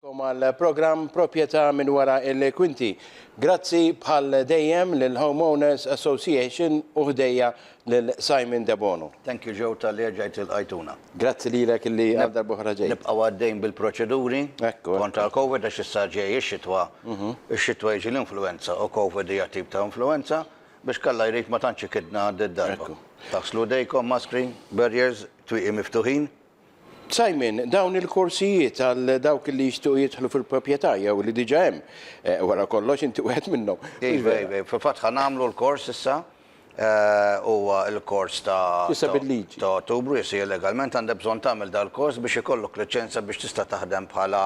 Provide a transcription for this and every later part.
Kom għal programm Proprjetà minn wara il-kwinti. Grazzi bħal dejjem lill-Home Owners Association u ħdejja lil Simon Debono. Thank you Joe talli erġajt ilqajtuna. Grazzi lilek illi għal darba oħra ġejt. Nibqgħu għaddejn bil-proċeduri kontra l-Covid għax issa ġej ix-xitwa, ix-xitwa jiġi l-influwenza u Covid hija tip ta' influwenza, biex kalla jrid ma tantx ikidna did-darba. Taħslu jdejkom, maskri, barriers, twieqi miftuħin. Simon, dawn il-korsijiet għal dawk li jixtiequ jidħlu fil-proprjetà jew li diġà hemm, wara kollox inti wieħed minnhom, mhux vera? Iva, iva, fil-fatt ħa nagħmlu l-kors issa, huwa l-kors ta' Issa bil-liġi. ta' Ottubru, yes, hija legalment għandha bżonn tagħmel dal-kors biex ikollok liċenzja biex tista' taħdem bħala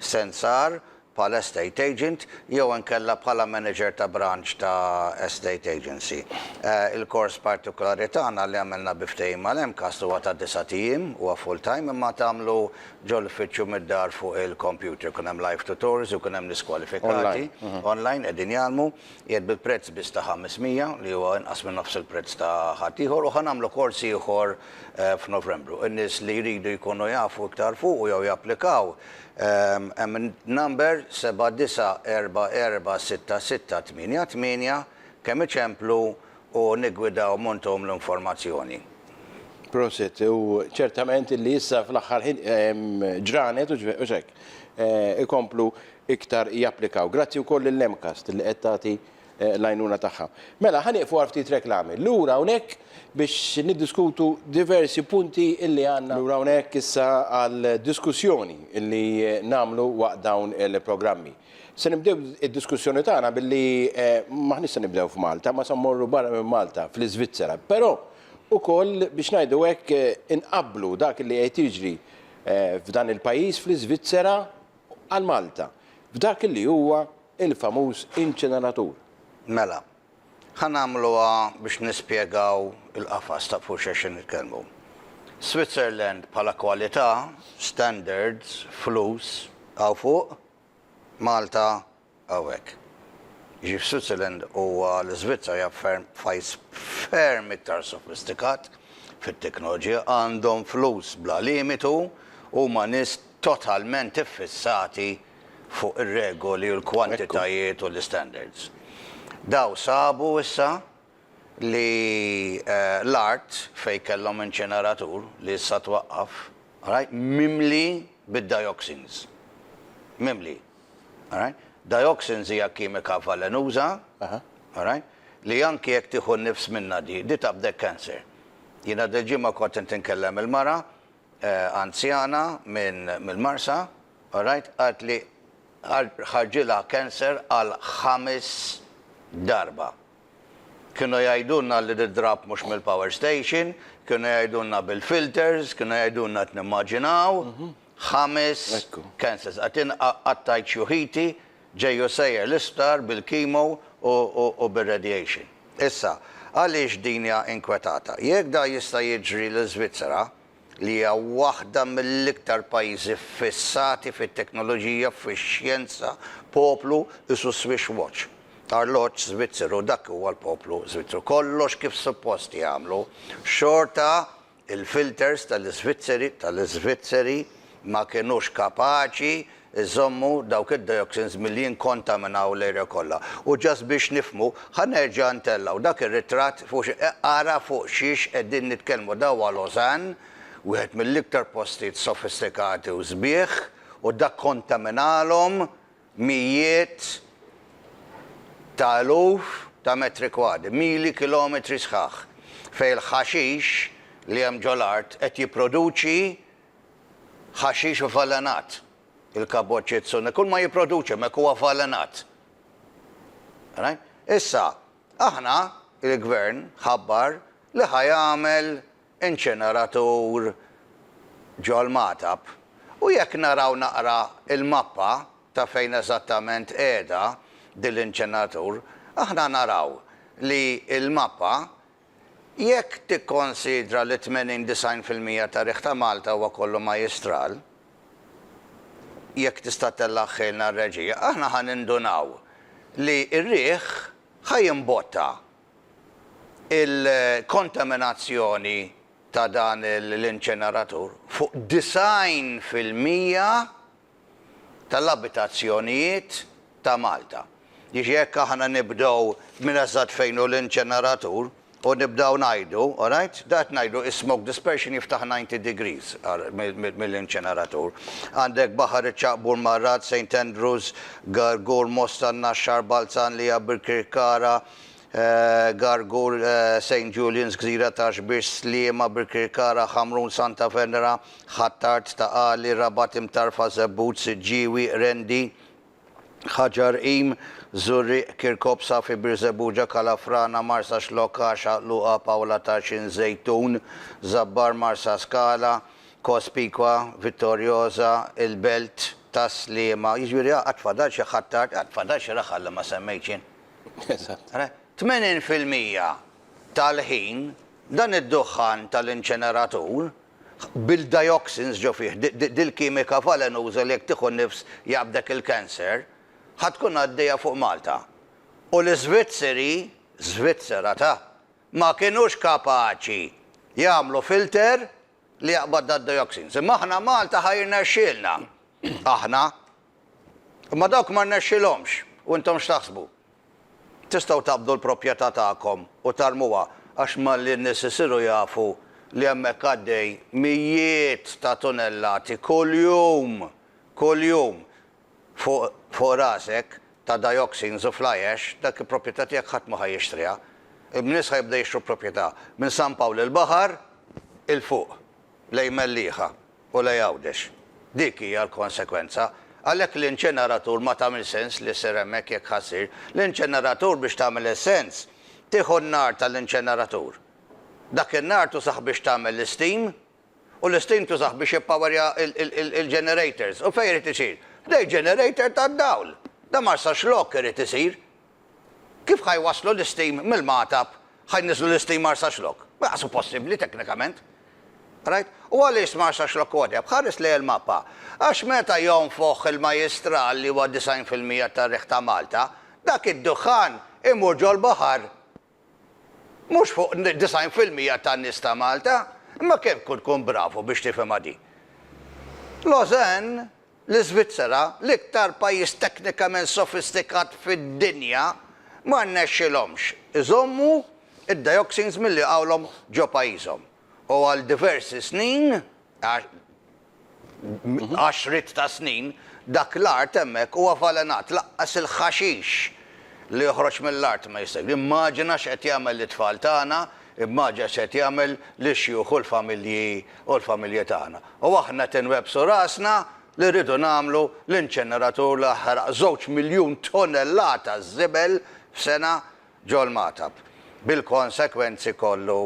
sensar bħala estate agent jew inkella bħala manager ta' branch ta' estate agency. Il-kors partikulari tagħna li għamilna bi ftehim mal-MCAST huwa ta' disgħat ijiem, huwa full time imma tagħmlu ġol-uffiċċju mid-dar fuq il-computer. Ikun hemm live tutors, ikun hemm nies kwalifikati, online, qegħdin jgħallmu, qiegħed bi prezz biss ta' 500 li huwa inqas minn nofs il-prezz ta' ħadd ieħor u ħa nagħmlu kors ieħor f'Novembru. In-nies li jridu jkunu jafu iktar fuqu jew japplikaw Emend number 79446688 Kemm iċemplu u niggwidaw m'ontom l-informazzjoni. Prosit, u ċertament illi issa fl-aħħar ħin ġranet u hekk ikomplu iktar japplikaw. Grazzi wkoll lil MCAST li qed tagħti l-għajnuna tagħha. Mela, ħa nieqfu għal ftit reklami. Lura hawnhekk biex niddiskutu diversi punti illi għandna. Lura hawnhekk issa għal diskussjoni illi nagħmlu waqt dawn il-programmi. Se nibdew id-diskussjoni tagħna billi m'aħniex se nibdew f'Malta, ma se mmorru barra minn Malta, fl-Iżvizzera. Però ukoll biex ngħidu hekk inqabblu dak illi qed jiġri f'dan il-pajjiż, fl-Iżvizzera, għal Malta, f'dak illi huwa Il-famuż inċineratur. Mela, ħa nagħmluha biex nispjegaw il-qafas ta' fuq x'qegħxin nitkellmu. Switzerland bħala kwalità, standards, flus, hawn fuq, Malta hawn hekk. Jiġifieri f'Switzerland huwa l-Iżvizzera hija ferm pajjiż ferm iktar sofistikat fit-teknoloġija, għandhom flus bla limitu, huma nies totalment iffissati fuq ir-regoli u l-kwantitajiet u l-istandards. Dawn sabu issa li l-art fejn kellhom inċineratur, li issa twaqqaf, alright, mimli bid-dioxins. Mimli. Alright? Dioxins hija kimika valenuża, alright, li anki jekk tieħu n-nifs minnha di, di taqbdek cancer. Jiena dil-ġimgħa kont qed inkellem il-mara anzjana mill-Marsa, alright, qalt li ħarġilha cancer għal ħames darba. Kienu jgħidulna li tidrab mhux mill-power station, kienu jgħidulna bil-filters, kienu jgħidulna qed nimmaġinaw, ħames cancers. Qed inqattajt xjuħiti. Ġej u sejjer l-isptar bil-chemo u bir-radiation. Issa, għaliex din hija inkwetata? Jekk dan jista' jiġri l-Iżvizzera, li hija waħda mill-iktar pajjiżi ffissati fit-teknoloġija, fix-xjenza, poplu qisu Swiss watch, arloġġ Żvizzeru, dak huwa l-poplu Żvizzru, kollox kif suppost jagħmlu, xorta Il-filters tal-Iżvizzeri tal-Iżvizzeri ma kinux kapaċi jżommu dawk id-dioxins milli jinkontaminaw l-area kollha. U just biex nifhmu, ħa nerġa' ntellgħu dak ir-ritratt fuq xi, ara fuq xiex qegħdin nitkellmu. Da huwa Lausanne, wieħed mill-iktar postijiet sofistikati u sbieħ, u da kkontaminalhom mijiet ta' eluf ta' metri kwadri, mili kilometri sħaħ, fejn il-ħaxix li hemm ġo l-art qed jipproduċi ħaxix avvelenat, il-Cabochitsune, kull ma jipproduċi hemmhekk huwa avvelenat. Issa, aħna, il-Gvern ħabbar li ħa jagħmel inċeneratur ġol-Magħtab u jekk naraw naqra il-mappa ta' fejn eżattament qiegħda din l-inċeneratur aħna naraw li l-mappa jekk tikkonsidra li 80, 90 fil-mija ta' riħ ta' Malta huwa kollu majjistral, jekk tista' tellagħ ħilna r-reġija, aħna ħa nindunaw li r-riħ ħa jimbotta il-kontaminazzjoni ta' dan l-inċeneratur fuq 90 fil-mija tal-abitazzjonijiet ta' Malta. Jiġi jekk aħna nibdew minn eżatt fejn hu l-inċeneratur u nibdew ngħidu, alright, dak qed ngħidu is-smoke dispersion jiftaħ 90 degrees mill-inċeneratur. Għandek Baħar iċ-Ċaqbur, Marrad, Saint Andrews, Gargur, Mosta, n-Naxxar, Balzan, Liabr, Kirkara, Gargul, St. Julians, Gżira ta' Xbiex, Sliema, Birkirkara, Ħamrun, Santa Venera, Ħ'Attard, Ta' Qali, Rabat Imtarfa, Żebbuġ, Siġġiewi, Qrendi, Ħaġar Qim, Żurrieq, Kirkop, Safi, Birżebbuġa, Kalafrana, Marsaxlokk, Għaxaq, Luqa, Pawla ta' Xi Nżejtun, Żabbar, Marsaskala, Cospicua, Vittoriosa, il-Belt tas-Sliema, jiġifieri għad fadal xi Ħ'Attard, għad fadal xi Raħal li ma semmejtx jien. Eżatt. 80 fil-mija tal-ħin dan id-duħħan tal-inċeneratur, bil-dioxins ġo fih, dil-kimika valenuża li jekk tieħu nifs jaqbdek il-cancer, ħa tkun għaddejja fuq Malta. U l-Iżvizzeri, Żvizzera ta', ma kinux kapaċi jagħmlu filter li jaqbad dad-dioxins. Imma aħna Malta ħa jirnexxielna. Aħna. Imma dawk ma rnexxilhomx. U intom x'taħsbu? Tistgħu taqbdu l-propjetà tagħkom u tarmuha għax malli n-nies isiru jafu li hemmhekk għaddej mijiet ta' tunellati kuljum, kuljum, fuq rasek ta' dioxins u fly ash, dak il-proprjetà tiegħek ħadd mhu ħa jixtriha. In-nies ħa jibdew jixtru proprjetà minn San Pawl il-Baħar 'il fuq lejn Mellieħa u lejn Għawdex. Dik hija l-konsekwenza. Għalhekk l-inċeneratur ma tagħmilx sens li ssir hemmhekk jekk ħa ssir. L-inċeneratur biex tagħmel is-sens tieħu n-nar tal-inċeneratur. Dak in-nar tużah biex tagħmel l-isteam. u l-istim tużah biex jippawerja l-ġenerators. U fejn irid isir? Ħdejn ġenerator tad-dawl! Dan mar sa xlokk irid isir! Kif ħa jwasslu l-istim mill-magħtab, ħa jniżżlu l-istim mar sa xlokk? Ma daqsu possibbli teknikament! Rajt? U għaliex mar sa xlokk huwa deheb? Ħares lejn il-mappa. Għax meta jonfoħ il-majjistral li huwa 90 fil-mija tar-riħ ta' Malta, dak id-duħħan imur ġol-baħar! Mhux fuq 90 fil-mija tan-nies ta' Malta, imma kemm kun tkun bravu biex tifhimha din. Lausanne, l-Iżvizzera, l-iktar pajjiż teknikament sofistikat fid-dinja, ma rnexxilhomx iżommu d-dioxins milli jqawlhom ġo pajjiżhom u għal diversi snin, għaxriet ta' snin, dak l-art hemmhekk hu avvalenat, lanqas il-ħaxix li joħroġ mill-art ma jista'. Immaġina x'qed jagħmel lit-tfal tagħna, immaġina x'qed jagħmel lix-xjuħ u l-familji u l-familji tagħna. U aħna qed inwebbsu rasna li rridu nagħmlu l-inċeneratur li jaħraq żewġ miljun tonellata żibel f'sena ġo l-Magħtab, bil-konsekwenzi kollu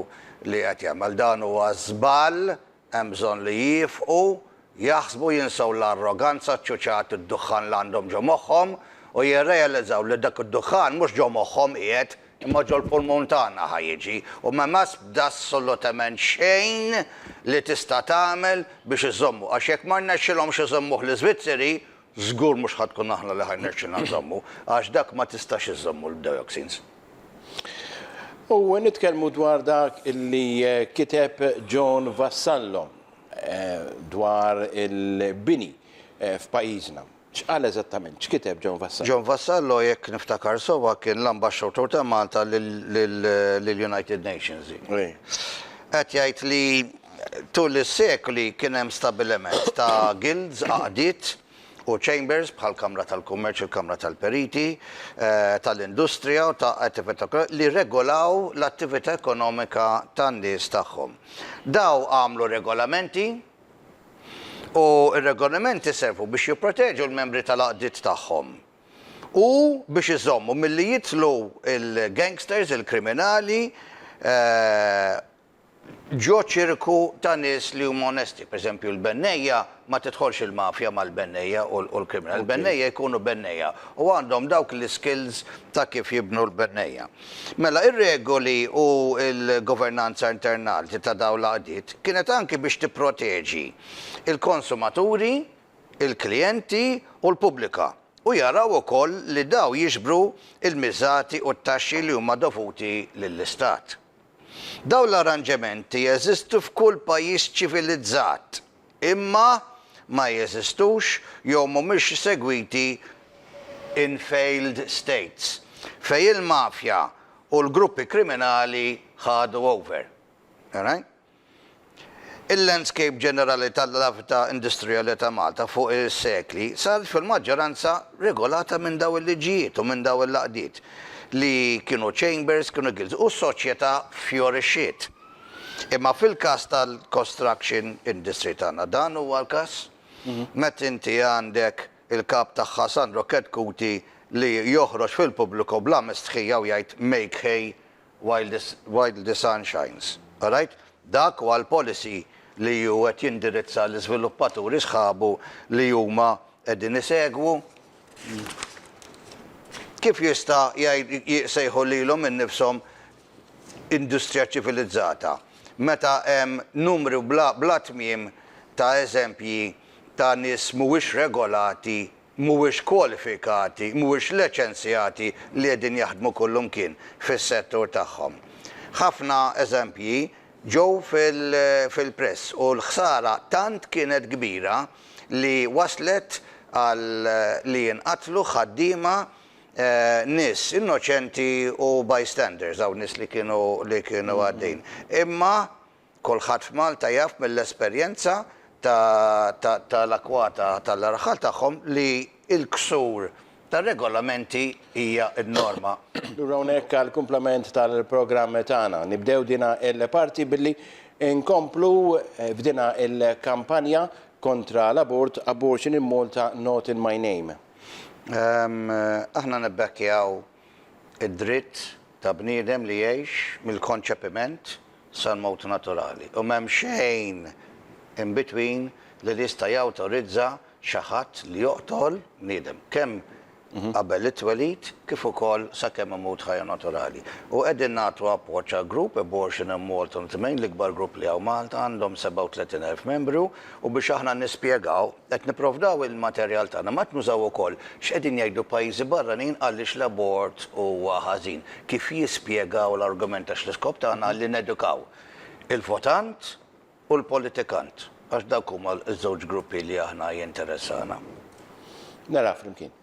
li qed jagħmel. Dan huwa żball Hemm bżonn li jifqu, jaħsbu, jinsew l-arroganza, ċ-ċuċat, id-duħħan li għandhom ġo moħħhom u jirrealizzaw li dak id-duħħan mhux ġo moħħhom qiegħed imma ġol-pulmun tagħna ħa jiġi u m'hemm'asb assolutement xejn li tista' tagħmel biex iżommu għax jekk ma rnexxilhomx iżommuh l-Iżvizzeri Żgur mhux ħa tkun aħna li ħa jnexxilna nżommu, għax dak ma tistax iżżommu l-dioxins. U nitkellmu dwar dak li kiteb John Vassallo dwar il-bini f'pajjiżna. X'qal eżattament? X'kiteb John Vassallo? John Vassallo, jekk niftakar sewwa, kien l-Ambaxxatur ta' Malta lill-United Nations. Qed jgħid li Tul is-sekli kien hemm stabbiliment ta' guilds, għaqdiet, u chambers, bħall-Kamra tal-Kummerċ, il-Kamra tal-Periti, tal-Industrija u ta' Attività, li rregolaw l-attività ekonomika tan-nies tagħhom. Dawn għamlu regolamenti u r-regolamenti servu biex jipproteġu l-membri tal-għaqdiet tagħhom u biex iżommu milli jidħlu l-gangsters, il-kriminali, ġo ċirku ta' nies li huma onesti. Per eżempju, l-bennejja, ma tidħolx il-mafja mal-bennejja u l-kriminal. Il-bennejja jkunu bennejja u għandhom dawk l-iskills ta' kif jibnu l-bennejja. Mela, ir-regoli u l-governanza internalti ta' dawn l-għaqdiet kienet anki biex tipproteġi l-konsumaturi, il-klijenti u l-pubblika u jaraw ukoll li dawn jiġbru l-miżati u t-taxxi li huma dovuti lill-istat. Dawn l-arranġementi jeżistu f'kull pajjiż ċivilizzat, imma ma jeżistux jew mhumiex segwiti in failed states, fejn il-mafja u l-gruppi kriminali ħadu over. Il-landscape ġenerali tal-lavta industrijali ta' Malta fuq is-sekli saret fil-maġġoranza regolata minn dawn il-liġijiet u minn dawn il-għaqdiet li kienu chambers, kienu guilds u s-soċjetà ffjorixxiet. Imma fil-każ tal-construction industry tagħna dan huwa l-każ? Meta inti għandek il-kap tagħha Sandro Chetcuti li joħroġ fil-pubbliku bla mistħija u jgħid make hay While the sun shines. Qrajt? Dak huwa l-policy li hu qed jindirizza l-iżviluppaturi sħabu li huma qegħdin isegwu? Kif jista' jsejħu lilhom innifshom industrija ċċivilizzata meta hemm numru bla tmiem ta' eżempji ta' nies mhuwiex regolati mhuwiex kwalifikati, mhuwiex leċenzjati li qegħdin jaħdmu kullumkien fis-settur tagħhom. Ħafna eżempji ġew fil-press u l-ħsara tant kienet kbira li waslet għal li jinqatlu ħaddiema, nies innoċenti u bystanders, hawn nies li kienu għaddejjin. Imma Kulħadd f'Malta jaf mill-esperjenza tal-akwata tal-arħal tagħhom li l-ksur tar-regolamenti hija n-norma. Lura hawnhekk għall-kumplament tal-programm tagħna. Nibdew dina l-parti billi nkomplu f'dina l-kampanja kontra l-abort, Abortion in Malta not in my name. Aħna nibbekkjaw id-dritt ta' bniedem li jgħix mill-konċepiment sal-mewt naturali u m'hemm xejn in between li jista' jawtorizza xi ħadd li joqtol bniedem, kemm qabel it-twelid kif ukoll sakemm imut ħajja naturali. U qegħdin nagħtu appoġġ għal grupp, Abortion in Malta on the Main, l-ikbar grupp li hawn Malta, għandhom 37,000 membru, u biex aħna nispjegaw, Qed nipprovdaw il-materjal tagħna, ma qed nużaw ukoll x'qegħdin jgħidu pajjiżi barranin għaliex l-abort huwa ħażin, kif jispjegaw l-argument għax l-iskop tagħna li nedukaw il-votant u l-politikant għax dawk huma ż-żewġ gruppi li aħna jinteressana. Naraha flimkien.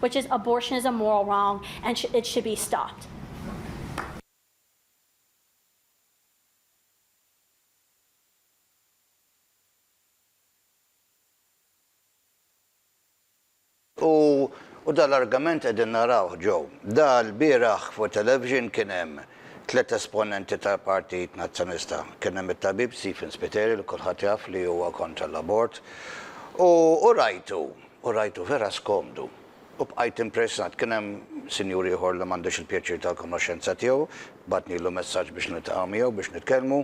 which is abortion is a moral wrong and it should be stopped. U u dan l-argament qegħdin narawh ġo. Da l-bieraħ fuq television kien hemm tliet esponenti tal-Partit Nazzjonista. Kien hemm it-tabib Stephen Spiteri li kulħadd jaf li huwa kontra l-abort. U u rajtu U rajtu vera skomdu. U bqajt impressat. Kien hemm sinjur ieħor li m'għandix il-pjaċir tal-konoxxenza tiegħu, bagħtnilu messaġġ biex niltaqa' miegħu biex nitkellmu.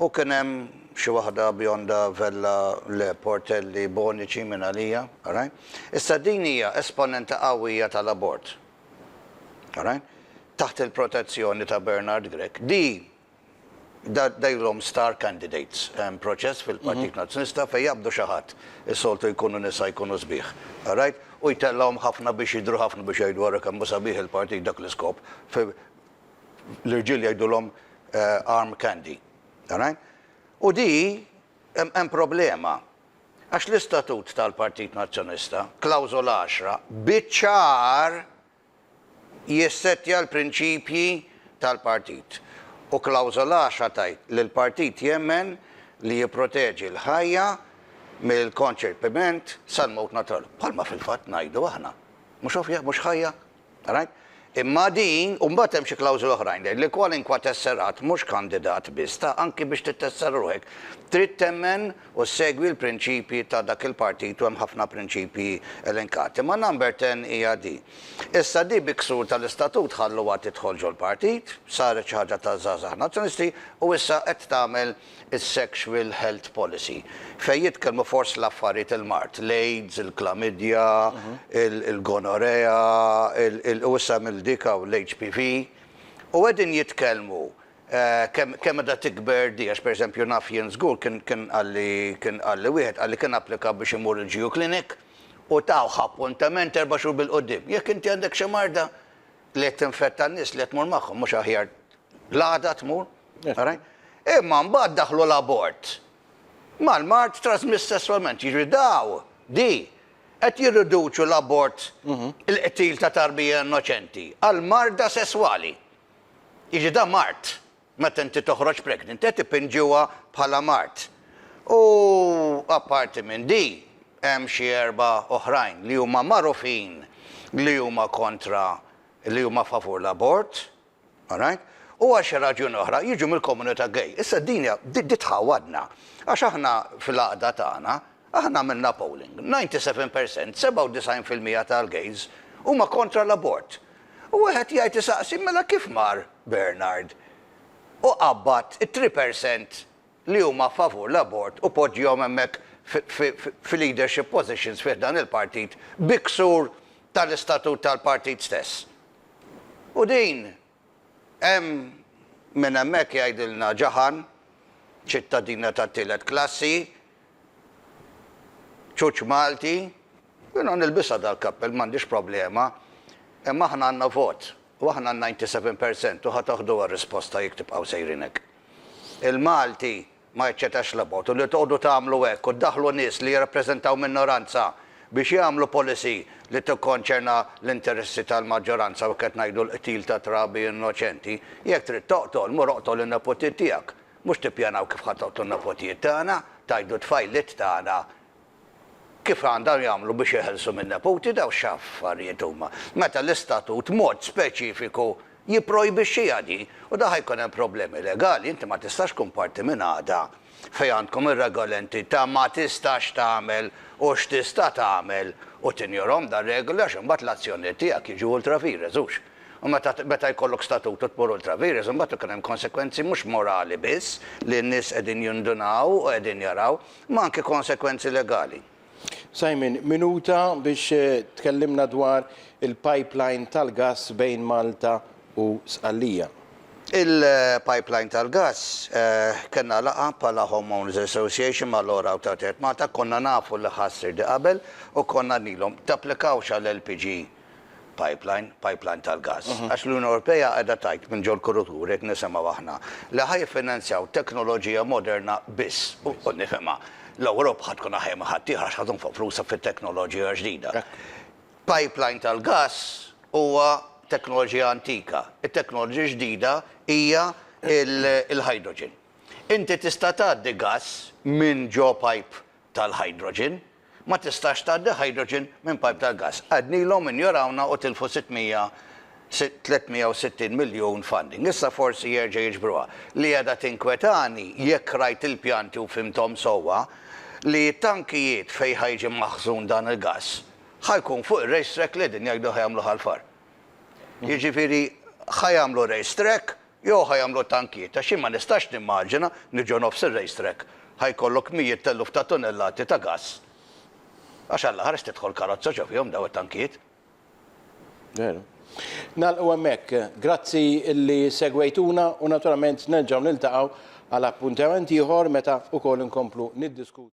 U kien hemm xi waħda bionda, vella, le, portelli, boniċi minn għalija. Għaraj? Issa din hija esponenta qawwija tal-abort. Għaraj? Taħt il-protezzjoni ta' Bernard Grech. Di darilhom star candidates. Hemm proċess fil-Partit Nazzjonista fejn jaqbdu xi ħadd, is-soltu jkunu nisa jkunu sbieħ, qrajt, u jtellgħuhom ħafna biex jidhru ħafna biex jgħidu ara kemm hu sabiħ il-partit dak l-iskop. L-irġiel jgħidulhom arm candy. Qrajt? U di hemm problema. Għax l-istatut tal-Partit Nazzjonista, klawżola għaxra, biċ-ċar jissettja l-prinċipji tal-Partit, u klawżola għaxra tgħid li l-Partit jemmen li jipproteġi l-ħajja mill-konċepiment sal-mewt naturali. Bħalma fil-fatt ngħidu aħna. Mhux ovvja, mhux ħajja? Alright? Imma din, u mbagħad hemm xi klawżoli oħrajn tgħid li kwalinkwa tesserat mhux kandidat biss ta' anki biex tittessera ruħek trid temmen u ssegwi l-prinċipji ta' dak il-partit u hemm ħafna prinċipji elenkati. Ma' number ten hija di. Issa di bi ksur tal-istatut ħalluha tidħol ġol-partit, saret xi ħaġa taż-żgħażagħ Nazzjonisti u issa qed tagħmel is-sexual health policy fejn jitkellmu fost l-affarijiet il-mard, l-aids, il-klamidja, il-gonorrhea, il, il, u issa għamel dik hawn l-HPV u qegħdin jitkellmu Kemm kemm qiegħda tikber di, għax pereżempju naf jien żgur kien kien qalli kien qalli wieħed qalli kien applika biex imur il-GU clinic u tawh appuntament erba' xhur bil-quddiem. Jekk inti għandek xi marda li qed tinfetta n-nies li qed tmur magħhom mhux aħjar l-għada tmur? Għarajt? Imma mbagħad daħħlu l-abort mal-mard trasmiss sesswalment. Jiġifieri daw, di, qed jirriduċu l-abort il-qtil ta' tarbija innoċenti għal marda sesswali. Jiġi dan mard. Meta inti toħroġ pregnant qed ipinġuha bħala mard. U apparti minn di hemm xi erba' oħrajn li huma magħrufin li huma kontra li huma favur l-abort, alright, u għal xi raġuni oħra jiġu mill-komunità gay. Issa din hija di tħawwadna għax aħna fil-għaqda tagħna, Aħna għamilna polling, 97 percent, 97 fil-mija tal-gays, huma kontra l-abort. U wieħed jgħid isaqsi mela kif mar Bernard u qabbad it-three percent li huma favur l-abort u poġġihom hemmhekk fi leadership positions fi ħdan il-partit bi ksur tal-istatut tal-partit stess. U din Hemm minn hemmhekk jgħidilna Ġaħan, ċittadina tat-tielet klassi, ċuċ Malti, jiena nilbisha dal-kappell m'għandix problema, imma aħna għandna vot u aħna n-97 percent u ħa toħduha r-risposta jekk tibqgħu sejrin hekk. Il-Malti Ma jiċċetax l-abortu. Li tqogħdu tagħmlu hekk u ddaħħlu nies li jirrappreżentaw minoranza biex jagħmlu policy li tikkonċerna l-interessi tal-maġġoranza u hekk qed ngħidu l-qtil ta' trabi innoċenti. Jekk trid toqtol, mur oqtol in-nepotiet tiegħek. Mhux tippjanaw kif ħa toqtlu n-nepotijiet tagħna, tgħiddu t-tfajliet tagħna Kif għandhom jagħmlu biex jeħilsu min-neputi dawn x'affarijiet huma, meta l-istatut mod speċifiku jipprojbixxiha din u dan ħa jkun hemm problemi legali, inti ma tistax tkun parti minn għaqda fejn għandkom ir-regolenti ta' ma tistax tagħmel u x'tista' tagħmel u tinjorhom dawn regoli għax imbagħad l-azzjonijiet tiegħek jiġu ultra vires hux u meta meta jkollok statut u tmur ultra vires imbagħad ikun hemm konsegwenzi mhux morali biss li n-nies qegħdin jindunaw u qegħdin jaraw ma anke konsegwenzi legali. Simon, minuta biex tkellimna dwar il-pipeline tal-gass bejn Malta u Sqallija. Il-pipeline tal-gass, kellna laqgħa bħala Home Owners Association ma' Laura u Trattat Malta, konna nafu li ħa ssir di qabel u konna qednilhom, tapplikawx għal LPG. pipeline, pipeline tal-gass. Għax l-Unjoni Ewropea qiegħda tgħid minn ġol-kuruturi, qed nisimgħu aħna, li ħa jiffinanzjaw teknoloġija moderna biss. U nifhimha, l-Ewropa ħa tkun aħjar minn ħaddieħor għax ħa tonfoq flusha fit-teknoloġija ġdida. Pipeline tal-gass huwa teknoloġija antika. It-teknoloġija ġdida hija l-hydrogen. Inti tista' tgħaddi gass minn ġo pipe tal-hydrogen, Ma tistax tgħaddi hydrogen minn pajp tal-gass. Għednilhom injorawna u tilfu 600, 360 miljun funding. Issa forsi jerġa' jiġbruha. Li qiegħda tinkwetani, jekk qrajt il-pjanti u fhimthom sewwa, li t-tankijiet fejn ħa jiġi maħżun dan il-gass, ħa jkun fuq ir-race track li qegħdin jgħidu ħa jagħmluh għall-far. Jiġifieri ħa jagħmlu race track Jew ħa jagħmlu tankieta, xi ma nistax nimmaġina li ġo nofs ir-race track ħa jkollok mijiet t'eluf ta' tunellati ta' gass. Għax alla ħares tidħol karozza x'ha fihom daw it-tankiet. Veru. Nagħlqu hemmhekk. Grazzi li segwejtuna u naturalment nerġgħu niltaqgħu għal appuntament ieħor meta wkoll inkomplu niddiskutu.